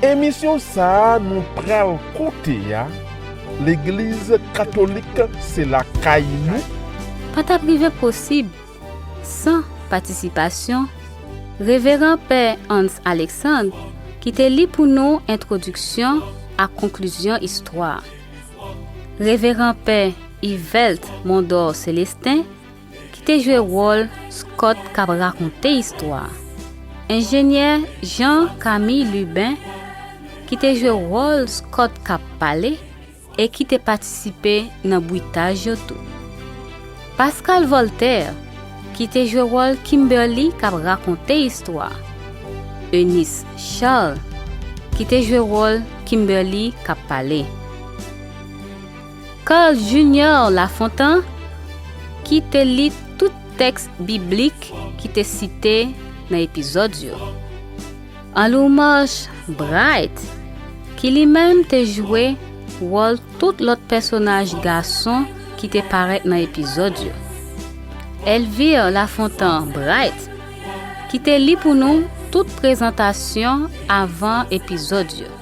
Emisyon sa nou pral koute a Legliz Katolik se lakay nou? Pa t ap rive posib san patisipasyon Reveran Pè Hans Alexandre ki te li pou nou entwodiksyon ak konklizyon istwa. Reveran Pè Yvelt Mondor Celestin ki te jwe wòl Scott k ap rakonte istwa a, enjenyè Jean Camille Lubin ki te jwe wòl Scott k ap pale e ki te patisipe nan bwitaj yo tou. Pascale Voltaire ki te jwe wòl Kimberly k ap rakonte istwa a, Eunice Charles ki te jwe wòl Kimberly k ap pale. Carl Junior Lafontant ki te li tout tèks biblik ki te site nan epizòd yo. Anloumarche Bright ki li menm te jwe wòl tout lòt pèsonaj gason ki te parèt nan epizòd yo. Elvire Lafontant Bright ki te li pou nou tout prezantasyon avan epizòd yo.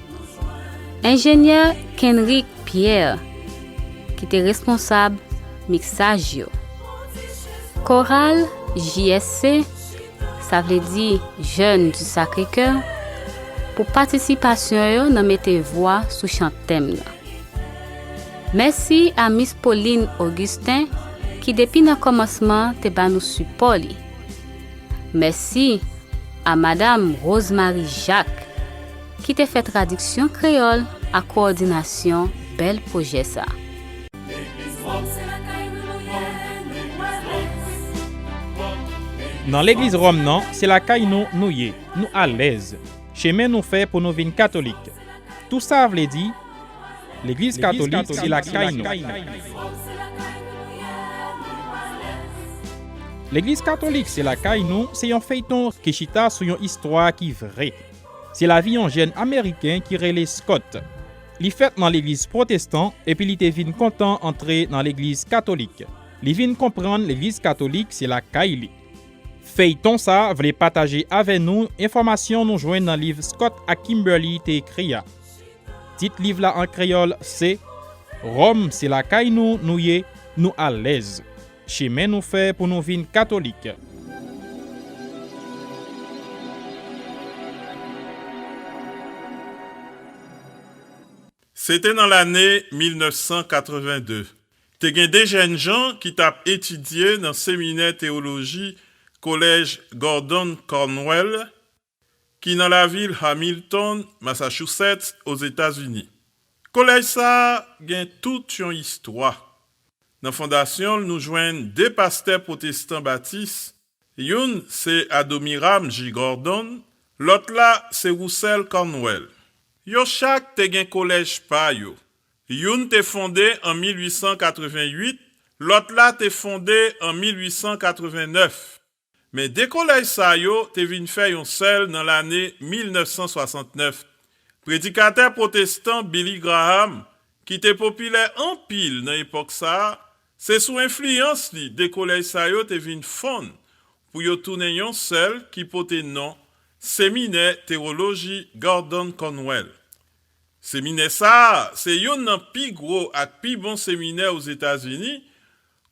Enjenyè Kenrick Pierre ki te responsab miksaj yo. Koral JSC, sa vle di Jeunes du Sacré-Cœur, pou patisipasyon yo nan mete vwa sou chan tèm nan. Mèsi a Miss Pauline Augustin ki depi nan kòmansman te ba nou sipò li. Mèsi a Madam Rose Marie Jacques. ki te fè tradiksyon kreyòl ak kowòdinasyon bèl pwojè sa a. Nan legliz Ròm nan, se lakay nou nou ye, nou alèz. Chemen nou fè pou nou vin katolik. Tou sa a vle di, legliz katolik se lakay nou. Legliz katolik se lakay nou se yon feyton ki chita sou yon istwa ki vre. Se lavi yon jèn Ameriken ki rele Scott. Li fèt nan legliz pwotestan epi li te vin kontan antre nan legliz katolik. Li vin konprann legliz katolik se lakay li. Feyton sa vle pataje avè nou enfòmasyon nou jwenn nan liv Scott ak Kimberly te ekri a. Tit liv la an kreyòl se, Ròm se lakay nou, nou ye, nou alèz. Chemen nou fè pou nou vin katolik. Se te nan lane 1982. Te gen de jènjan ki t ap etidye nan seminè teyoloji Kolèj Gordon Conwell ki nan lavil Hamilton, Massachusetts, Ozetazini. Kolèj sa a gen tout yon istwa. Nan fondasyon l nou jwenn de pastè pwotestan batis, youn se Adoniram J. Gordon, lòt la se Russell Cornwell. Yo chak te gen kolèj pa yo, youn te fonde an 1888, lòt la te fonde an 1889. Men 2 kolèj sa yo te vin fè yon sèl nan lane 1969. Predikatè pwotestan Billy Graham, ki te popilè anpil nan epòk sa a, se sou enfliyans li 2 kolèj sa yo te vin fonn pou yo tounen yon sèl ki pote non Seminè Tewoloji Gordon Conwell. Seminè sa a se youn nan pi gwo ak pi bon seminè Ozetazini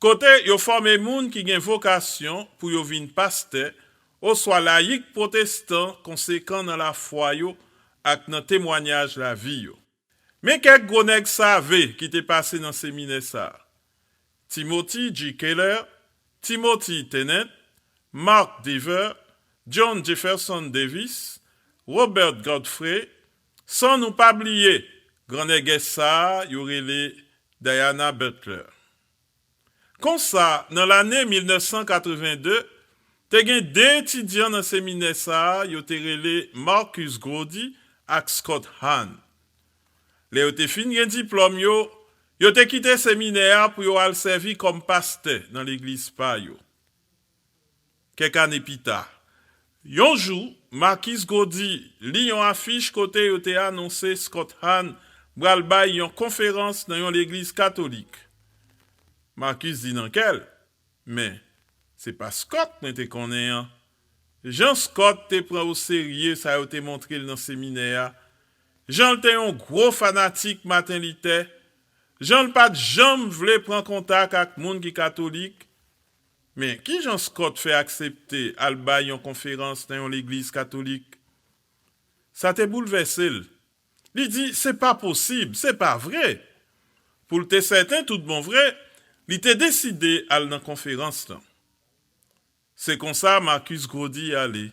Kote yo fòme moun ki gen vokasyon pou yo vin pastè oswa layik pwotestan konsekan nan lafwa yo ak nan temwanyaj lavi yo. Men kèk gwo nèg save ki te pase nan seminè sa a, Timothy G. Keller, Timothy Tennent, Mark Dever, John Jefferson Davis, Robert Godfrey, San nou pa bliye gran nègès sa yo rele Diana Butler. Konsa, nan lane 1982, te gen 2 etidyan nan seminè sa yo te rele Marcus Gordy ak Scott Hahn. Lè yo te fin gen diplòm yo, yo te kite seminè a pou yo al sèvi kòm pastè nan legliz pa yo. Kèk ane pita, yon jou, Marcus Gordy li yon afich kote yo te anonse Scott Hahn pral bay yon konferans nan yon legliz katolik. Marcus di nan kè l, Men, se pa Scott mwen te konnen an. Jan Scott te pran oserye sa yo te montre l nan seminè a, jan l te yon gwo fanatik Maten Litè, jan l pa t janm vle pran kontak ak moun ki katolik, Men, ki jan Scott fè aksepte al bay yon konferans nan yon legliz katolik? Sa te boulvèse l. Li di, Se pa posib! Se pa vre! Pou l te sèten toutbonvre, li te deside al nan konferans lan. Se konsa Marcus Grody ale.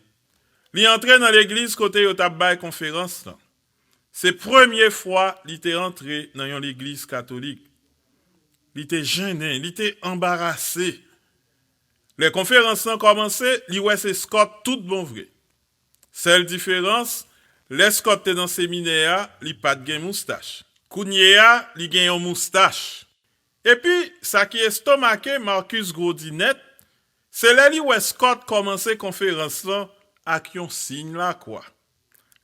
Li antre nan legliz kote yo t ap bay konferans lan. Se premye fwa li te antre nan yon legliz katolik. Li te jennen, li te anbarase. Lè konferans lan kòmanse, li wè se Scott tout bon vre. Sèl diferans, lè Scott te nan seminè a, li pa t gen moustach. Kounye a, li gen yon moustach. Epi, sa ki estomake Marcus grodi nèt, se lè li wè Scott kòmanse konferans lan ak yon siy lakwa.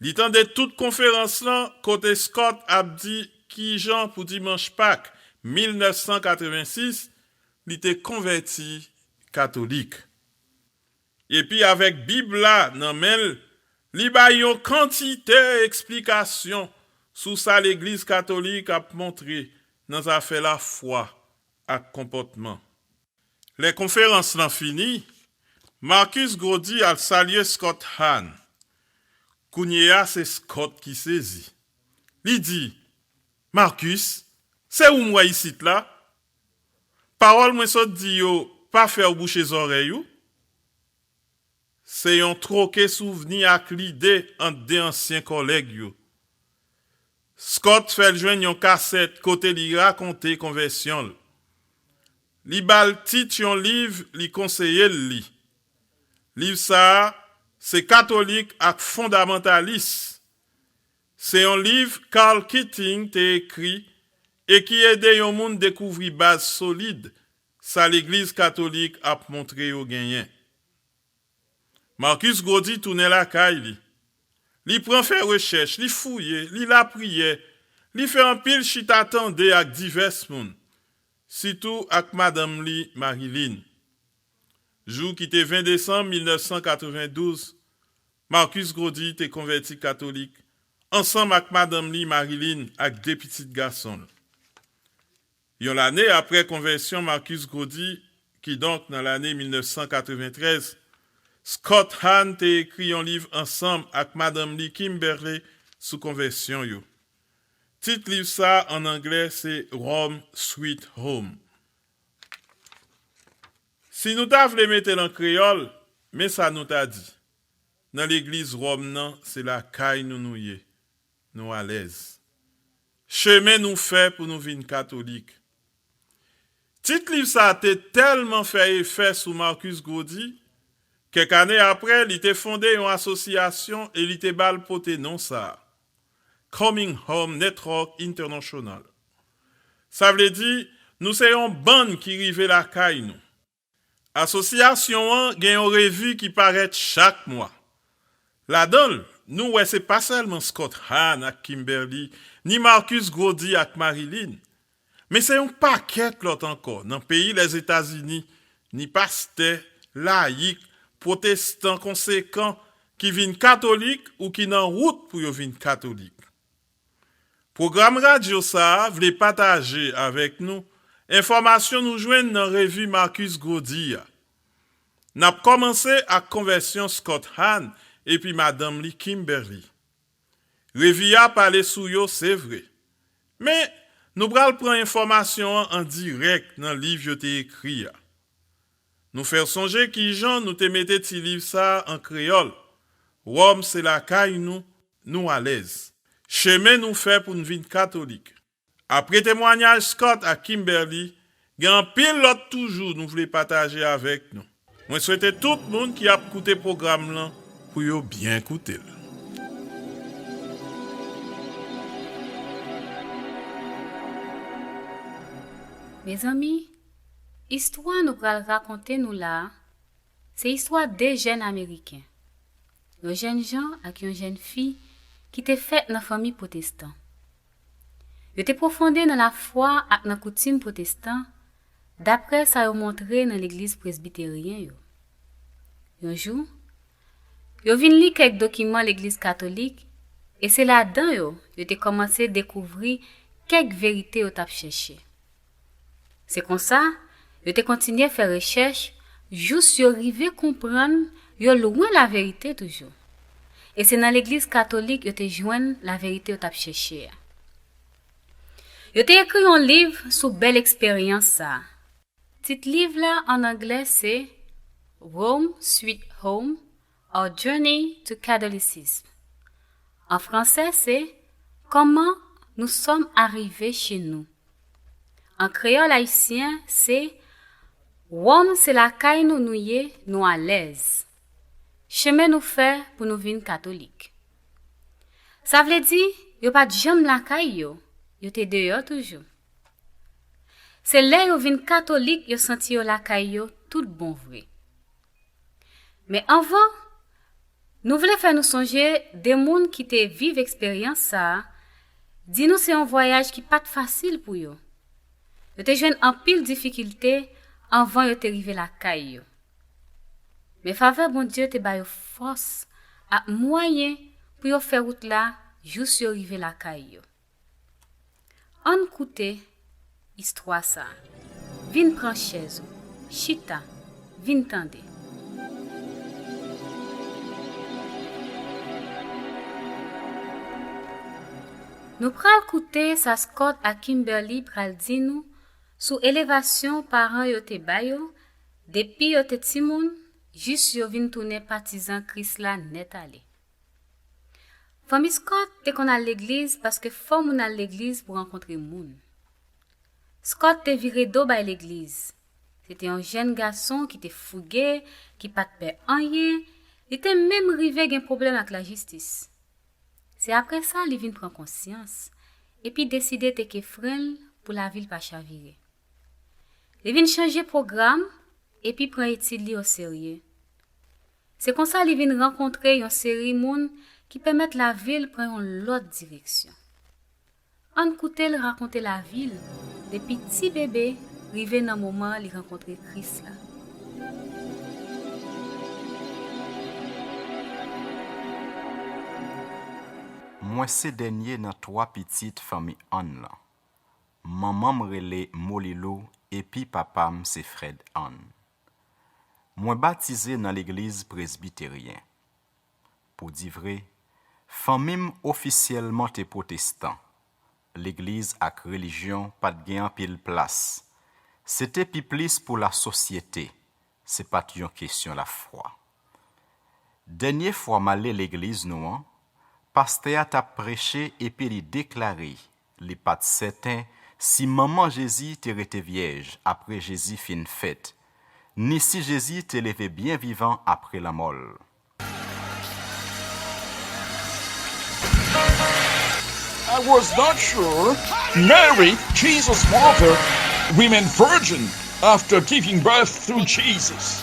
Li tande tout konferans lan kote Scott ap di kijan pou Dimanch Pak 1986 li te konvèti Katolik. Epi avèk Bib la nan men l, li bay yon kantite eksplikasyon sou sa Legliz Katolik ap montre nan zafè lafwa ak konpòtman. Lè konferans lan fini, Marcus Groddy al salye Scott Hahn. Kounye a se Scott ki sezi. Li di, Marcus, se ou m wè isit la? Pawòl mwen sot di yo pa fè w bouche zòrèy ou? Se yon twoke souvni ak lide ant de ansyen kòlèg yo. Scott fè l jwenn yon kasèt kote li rakonte konvèsyon l. Li ba l tit yon liv li konseye l li. Liv sa a se Katolik ak Fondamantalis. Se yon liv Karl Keating te ekri e ki ede yon moun dekouvri baz solid sa Legliz Katolik ap montre yo genyen. Marcus Gaudy tounen lakay li. Li pran fè rechèch, li fouye, li lapriyè, li fè anpil chita tande ak divès moun, sitou ak madanm li Marie-Line. Jou ki te 20 desanm 1992, Marcus Gaudy te konvèti katolik ansanm ak madanm li Marie-Line ak 2 pitit gason l. Yon lane apre konvèsyon Marcus Gaudy, kidonk nan lane 1993, Scott Hahn te ekri yon liv ansanm ak madanm li Kimberley sou konvèsyon yo. Tit liv sa a ann anglè se Home, Sweet Home. Si nou ta vle mete l an kreyòl, men sa nou ta di, Nan legliz Wòm nan se lakay nou nou ye. nou alèz. Chemen nou fè pou nou vin katolik. Tit liv sa a te tèlman fè efè sou Marcus Grody, kèk ane apre, li te fonde yon asosyasyon e li te ba l pote non sa a, Coming Home Network International. Sa vle di, Nou se yon bann ki rive lakay nou. Asosyasyon an gen yon revi ki parèt chak mwa. Ladan l, nou wè se pa sèlman Scott Hahn ak Kimberly, ni Marcus Grody ak Marilyn, men se yon pakèt lòt ankò nan peyi Lèzetazini, ni pastè, layik, pwotestan konsekan ki vin katolik ou ki nan wout pou yo vin katolik. Pwogram radyo sa a vle pataje avèk nou enfòmasyon nou jwenn nan revi Marcus Groddy a. N ap kòmanse ak konvèsyon Scott Hahn epi madanm li Kimberly. Revi a pale sou yo se vre, men nou pral pran enfòmasyon an an dirèk nan liv yo te ekri a. Nou fè w sonje kijan nou te mete ti liv sa an kreyòl, Wòm se lakay nou, nou alèz. Chemen nou fè pou n vin katolik. Apre temwanyaj Scott ak Kimberly, gen anpil lòt toujou nou vle pataje avèk nou. Mwen swete tout moun ki ap koute pwogram lan pou yo byen koute l. Mezanmi, Istwa nou pral rakonte nou la a, se istwa de jèn Ameriken, yon jènjan ak yon jènfi ki te fèt nan fanmi pwotestan. Yo te pwofonde nan lafwa ak nan koutim pwotestan, dapre sa yo montre nan legliz presbiteryen yo. Yon jou, yo vin li kèk dokiman legliz katolik e se ladan yo yo te kòmanse dekouvri kèk verite yo t ap chèche. Se konsa, yo te kontinye fè rechèch jous yo rive konprann yo lwen laverite toujou. E se nan Legliz Katolik yo te jwenn laverite yo t ap chèche a. Yo te ekri yon liv sou bèl eksperyans sa a. Tit liv la ann anglè se Rome, Sweet Home, Our Journey to Catholicism, an fransè se Kòman nou sòm arive che nou, an kreyòl ayisyen se Wòm se lakay nou nou ye nou alèz, chemen nou fè pou nou vin katolik. Sa vle di yo pa t janm lakay yo, yo te deyò toujou. Se lè yo vin katolik yo santi yo lakay yo tout bon vre. Men anvan, nou vle fè nou sonje 2 moun ki te viv eksperyans sa a, di nou se yon vwayaj ki pa t fasil pou yo. Yo te jwenn anpil difikilte anvan yo te rive lakay yo. Men favè Bondye te ba yo fòs ak mwayen pou yo fè wout la jous yo rive lakay yo. Ann koute istwa sa a. Vin pran chèz ou, chita, vin tande. Nou pral koute sa Scott ak Kimberly pral di nou sou elevasyon paran yo te ba yo depi yo te timoun jis yo vin tounen patizan Kris la nèt ale. Fanmi Scott te konn al legliz paske fò moun al legliz pou rankontre moun. Scott te vire do bay legliz. Se te yon jèn gason ki te fouge, ki pa t pè anyen, li te menm rive gen pwoblèm ak lajistis. Se apre sa li vin pran konsyans, epi deside teke fren l pou lavi l pa chavire. Li vin chanje pwogram epi pran etid li oserye. Se konsa li vin rankontre yon seri moun ki pèmèt lavi l pran yon lòt direksyon. Ann koute l rakonte lavi l depi ti bebe rive nan moman li rankontre Kris la. Mwen se dènye nan twa pitit fanmi Ann lan. Manman m rele Molilou epi papa m se Frèd Ann. Mwen batize nan legliz Presbiteryen. Pou di vre, fanmi m ofisyèlman te pwotestan, legliz ak relijyon pa t gen anpil plas, se te pi plis pou lasosyete, se pa t yon kesyon lafwa. Dènye fwa m ale legliz nou an, pastè a t ap preche epi li deklare Li pa t sèten si manman Jezi te rete vyèj apre Jezi fin fèt, ni si Jezi te leve byen vivan apre lanmò l. I was not sure Mary, Jesus mother, remained virgin after giving birth to Jesus.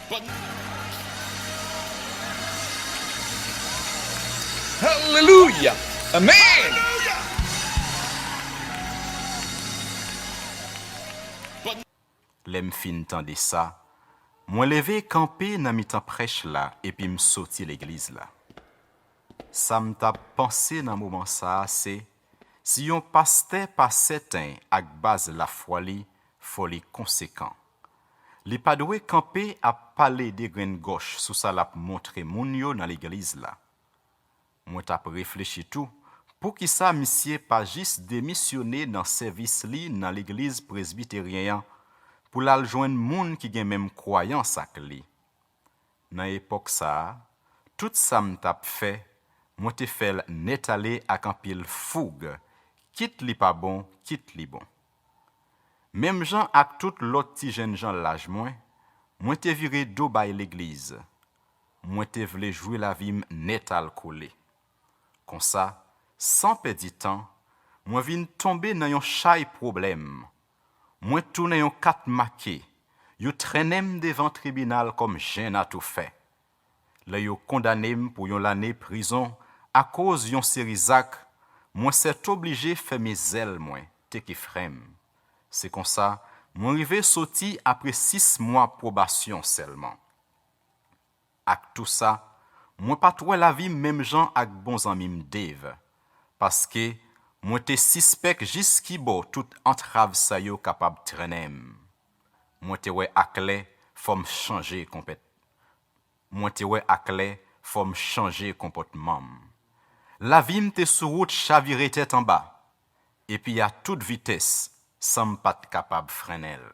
Alelouya amen. Lè m fin tande sa, mwen leve kanpe nan mitan prèch la epi m soti legliz la. Sa m t ap panse nan moman sa a se, Si yon pastè pa sèten ak baz lafwa li, fò li konsekan. Li pa dwe kanpe ap pale degrenn gòch sou sa l ap montre moun yo nan legliz la. Mwen t ap reflechi tou, poukisa misye pa jis demisyone nan sèvis li nan legliz presbiteryen an pou l al jwenn moun ki gen menm kwayans ak li? Nan epòk sa a, tout sa m t ap fè, mwen te fè l nètale ak anpil foug, kit li pa bon, kit li bon. Menm jan ak tout lòt ti jènjan laj mwen, mwen te vire do bay legliz. Mwen te vle jwi lavi m nètalkole. Konsa, san pèdi tan, mwen vin tonbe nan yon chay pwoblèm, Mwen t tounen yon kat make yo trennenm devan tribinal kòm jenn atoufè lè yo kondanem pou yon lane prizon akoz yon seri zak mwen sètoblije fèmen zèl mwen teke frèm se konsa mwen rive soti apre 6 mwa pwobasyon sèlman. Ak tou sa, mwen pa t wè lavi m menm jan ak bon zanmi m Dave, paske mwen te sispèk jis kibò tout antrav sa yo kapab trennen m. Mwen te wè aklè fò m chanje konpèt Mwen te wè aklè fò m chanje konpòtman m. Lavi m te sou wout chavire tèt anba, epi a tout vitès san m pa t kapab frennen l.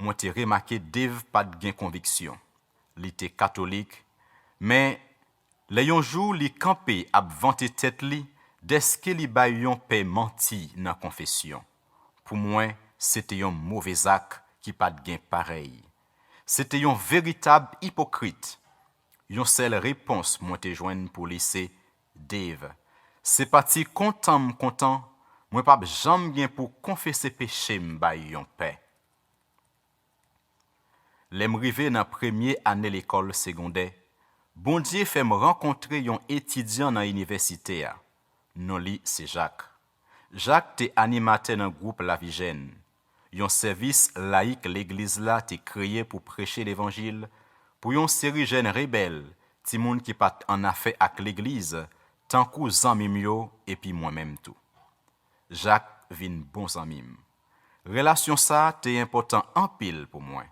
Mwen te remake Dave pa t gen konviksyon. Li te katolik. Men, lè yon jou li kanpe ap vante tèt li dèske li bay yon pè manti nan konfesyon, pou mwen se te yon move zak ki pa t gen parèy. Se te yon veritab ipokrit. Yon sèl repons mwen te jwenn pou li se, Dave, Se pa ti kontan m kontan mwen p ap janm gen pou konfese peche m bay yon pè. Lè m rive nan premye ane lekòl segondè, Bondye fè m rankontre yon etidyan nan inivèsite a, non li se Jak. Jak te animatè nan gwoup Lavijèn, yon sèvis layik Legliz la te kreye pou preche levanjil pou yon seri jèn rebèl, timoun ki pa t annafè ak Legliz, tankou zanmi m yo epi mwen menm tou. Jak vin bon zanmi m. Relasyon sa a te enpòtan anpil pou mwen.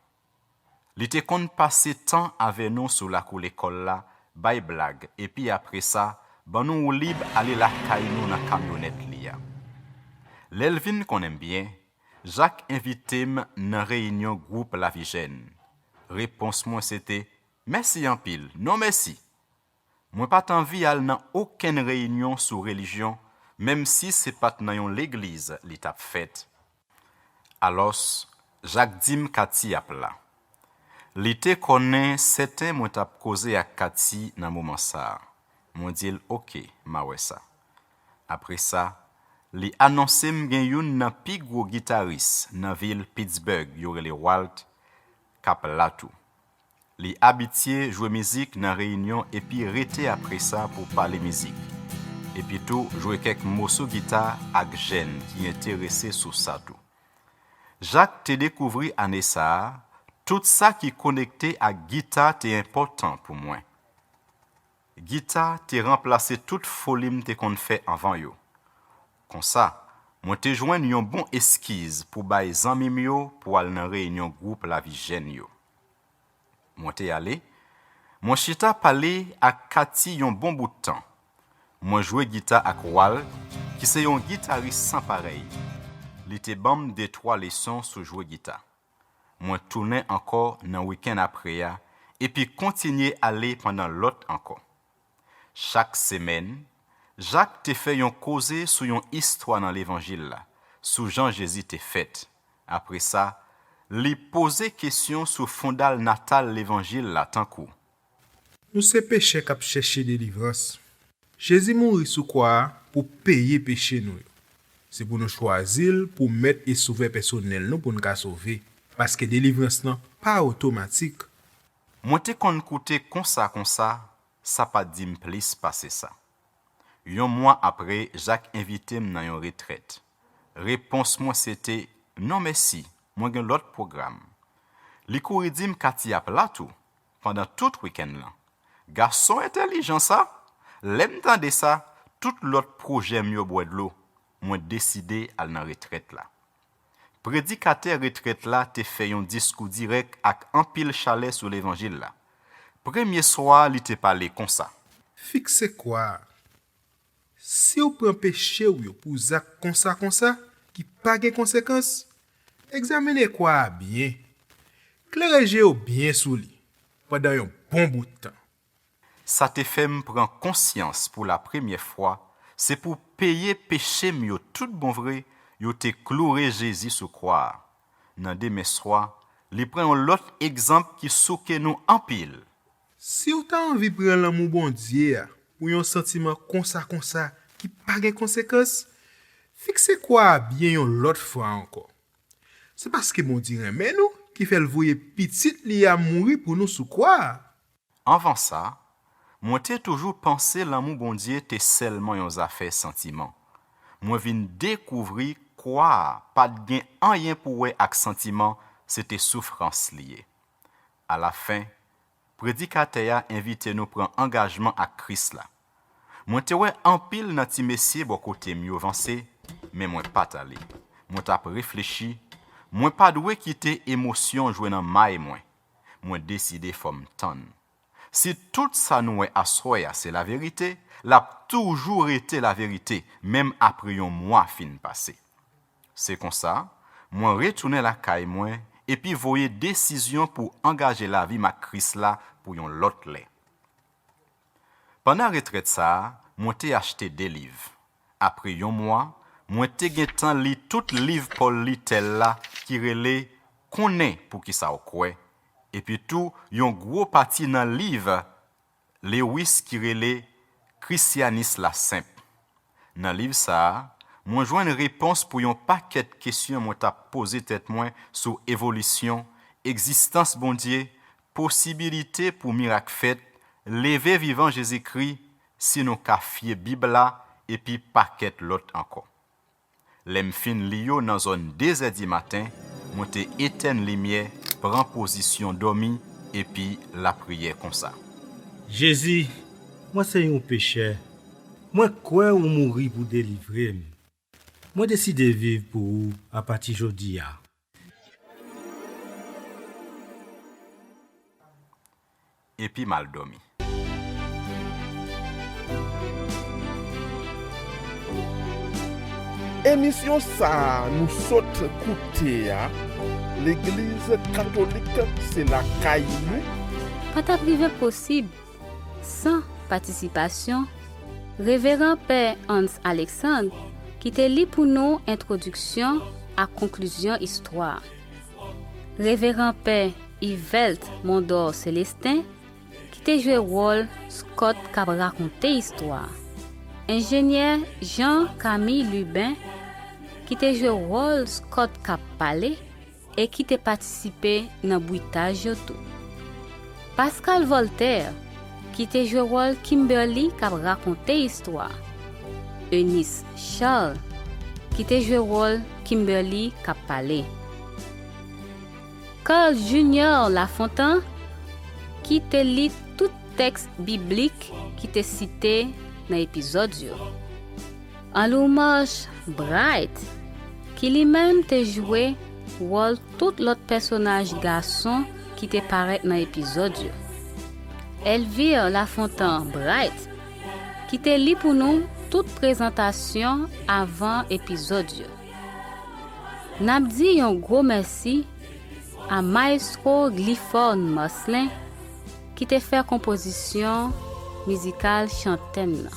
Li te konn pase tan avè nou sou lakou lekòl la, bay blag, epi apre sa, ban nou woulib ale lakay nou nan kamyonèt li a. Lè l vin konnen m byen, Jak envite m nan reyinyon gwoup Lavijèn. Repons mwen se te, Mèsi anpil, non mèsi! Mwen pa t anvi al nan okenn reyinyon sou relijyon, menmsi se pa t nan yon legliz li t ap fèt. Alòs, Jak di m Kati ap la. Li te konnen sèten mwen t ap koze ak Kati nan moman sa a. Mwen di l oke, m a wè sa. Apre sa, li anonse m gen youn nan pi gwo gitaris nan vil Pittsburgh yo rele Walt k ap la tou. Li abitye jwe mizik nan reyinyon epi rete apresa pou pale mizik. Epitou jwe kèk moso gita ak jèn ki enterese sou sa tou. Jacques te dekouvri ane sa a, Tout sa ki konekte ak gita te enpòtan pou mwen. Gita te ranplase tout foli m te konn fè anvan yo. Konsa, mwen te jwenn yon bon eskiz pou bay zanmi m yo pou al nan reyinyon gwoup Lavi Jèn yo. Mwen te ale, mwen chita pale ak Katty yon bon bout tan. Mwen jwe gita ak Wal ki se yon gitaris san parèy. Li te ban m de twa leson sou jwe gita. Mwen tounen ankò nan wikenn apre a epi kontinye ale pandan lòt ankò. Chak semèn, Jak te fè yon koze sou yon istwa nan Levanjil la, sou jan Jezi te fèt. Apre sa, li poze kesyon sou fondal natal Levanjil la tankou. Nou se pechè k ap chèche delivrans. Jezi mouri sou kwa a pou peye peche nou yo. Se pou nou chwazi l pou Mèt e Sovè pèsonèl nou pou n ka sove. Paske delivrans lan pa otomatik, Mwen te konn koute konsa konsa, sa pa t di m plis pase sa. Yon mwa apre, Jak envite m nan yon retrèt. Repons mwen se te, Non mèsi, mwen gen lòt pwogram. Li kouri di m Kati ap la tou, pandan tout wikenn lan. Gason entèlijan sa! Lè m tande sa, tout lòt pwojè m yo bwè dlo, mwen deside al nan retrèt la. Predikatè retrèt la te fè yon diskou dirèk ak anpil chalè sou levanjil la. Premye swa a li te pale konsa. Fikse kwa a. Si w pran peche w yo pou zak konsa konsa ki pa gen konsekans, egzamine kwa a byen. Klere je yo byen sou li pandan yon bon bout tan. Sa te fè m pran konsyans pou lapremyè fwa se pou peye peche m yo tout bon vre yo te kloure Jezi sou kwa a. Nan demen swa, li pran yon lòt egzanp ki souke nou anpil. Si w ta anvi pran lanmou Bondye a pou yon santiman konsa konsa ki pa gen konsekans, fikse kwa a byen yon lòt fwa ankò. Se paske Bondye renmen nou ki fè l voye Pitit li a mouri pou nou sou kwa a. Anvan sa, mwen te toujou panse lanmou Bondye te sèlman yon zafè santiman. Mwen vin dekouvri kwa a pa t gen anyen pou wè ak santiman, se te soufrans li ye. Alafen, predikatè a envite nou pran angajman ak Kris la. Mwen te wè anpil nan ti mesye bò kote m yo vanse, men mwen pa t ale. Mwen t ap reflechi, 'Mwen pa dwe kite emosyon jwe nan may mwen. Mwen deside fò m tann. Si tout sa nou wè aswè a se laverite, l ap toujou rete laverite menm apre yon mwa fin pase. Se konsa, mwen retounen lakay mwen epi voye desizyon pou angaje lavi m ak Kris la pou yon lòt lè. Pandan retrèt sa a, mwen te achte de liv. Apre yon mwa, mwen te gentan li tout liv Paul Little la ki rele Konnen Poukisa w Kwè, epitou yon gwo pati nan liv Lewis ki rele Krisyanis la Senp. Nan liv sa a, mwen jwenn repons pou yon pakèt kesyon mwen t ap poze tèt mwen sou evolisyon, egzistans Bondye, Posibilite pou mirak fèt, leve vivan Jezikri si nou ka fye Bib la epi pakèt lòt ankò. Lè m fin li yo nan zòn dezè dimaten, mwen te etèn limyè, pran pozisyon dòmi epi lapriyè konsa. Jezi, mwen se yon pechè, mwen kwè ou mouri pou delivre m. Mwen deside viv pou ou apati jodi a. Epi m al dòmi. Emisyon sa a nou sot koute a Legliz Katolik se lakay nou. Pa t ap rive posib San patisipasyon Reveran Pè Hans Alexandre ki te li pou nou entwodiksyon ak konklizyon istwa a. Reveran Pè Yvelt Mondor Celestin ki te jwe wòl Scott k ap rakonte istwa a. Enjenyè Jean Camille Lubin ki te jwe wòl Scott k ap pale. e ki te patisipe nan bwitaj yo tou. Pascale Voltaire, ki te jwe wòl Kimberly k ap rakonte istwa. Eunice Charles, ki te jwe wòl Kimberly k ap pale. Carl Junior Lafontant, ki te li tout tèks biblik ki te site nan epizòd yo. An Lourmange Bright, ki li menm te jwe wòl tout lòt pèsonaj gason ki te parèt nan epizòd yo. Elvire Lafontant Bright, ki te li pou nou tout prezantasyon avan epizòd yo. N ap di yon gwo mèsi a Maestro Glyphorne Marcelin ki te fè konpozisyon mizikal chantèm nan.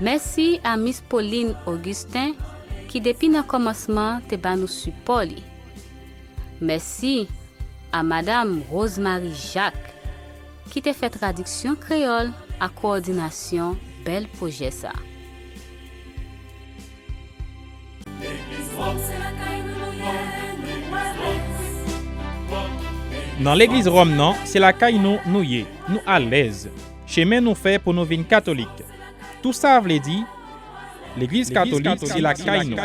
Mèsi a Miss Pauline Augustin ki depi nan kòmansman te ba nou sipò li. Mèsi a Madam Rose Marie Jacques ki te fè tradiksyon kreyòl ak kowòdinasyon bèl pwojè sa. Nan legliz Ròm nan, se lakay nou nou ye, nou alèz. Chemen nou fè pou nou vin katolik. Tou sa vle di, legliz katolik se lakay nou.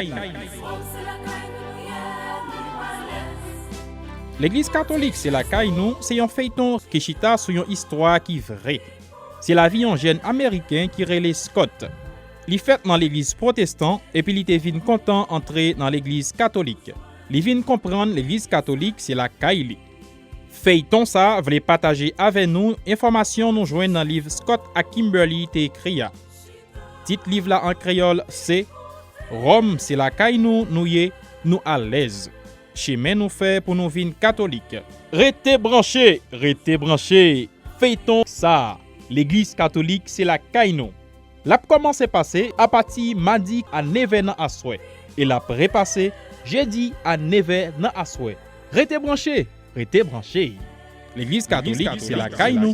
Legliz katolik se lakay nou se yon feyton ki chita sou yon istwa ki vre. Se lavi yon jèn ameriken ki rele Scott. Li fèt nan legliz pwotestan epi li te vin kontan antre nan legliz katolik. Li vin konprann legliz katolik se lakay li. Feyton sa vle pataje avè nou enfòmasyon nou jwenn nan liv Scott ak Kimberly te ekri a. Tit liv la an kreyòl se Ròm se lakay nou nou ye, nou alèz. Chemen nou fè pou nou vin katolik. Rete branche! Rete branche! Feyton sa, Legliz katolik se lakay nou! L ap kòmanse pase apati madi a nevè nan aswè e l ap repase jedi a nevè nan aswè. Rete branche! Rete branche! Legliz Katolik se lakay nou!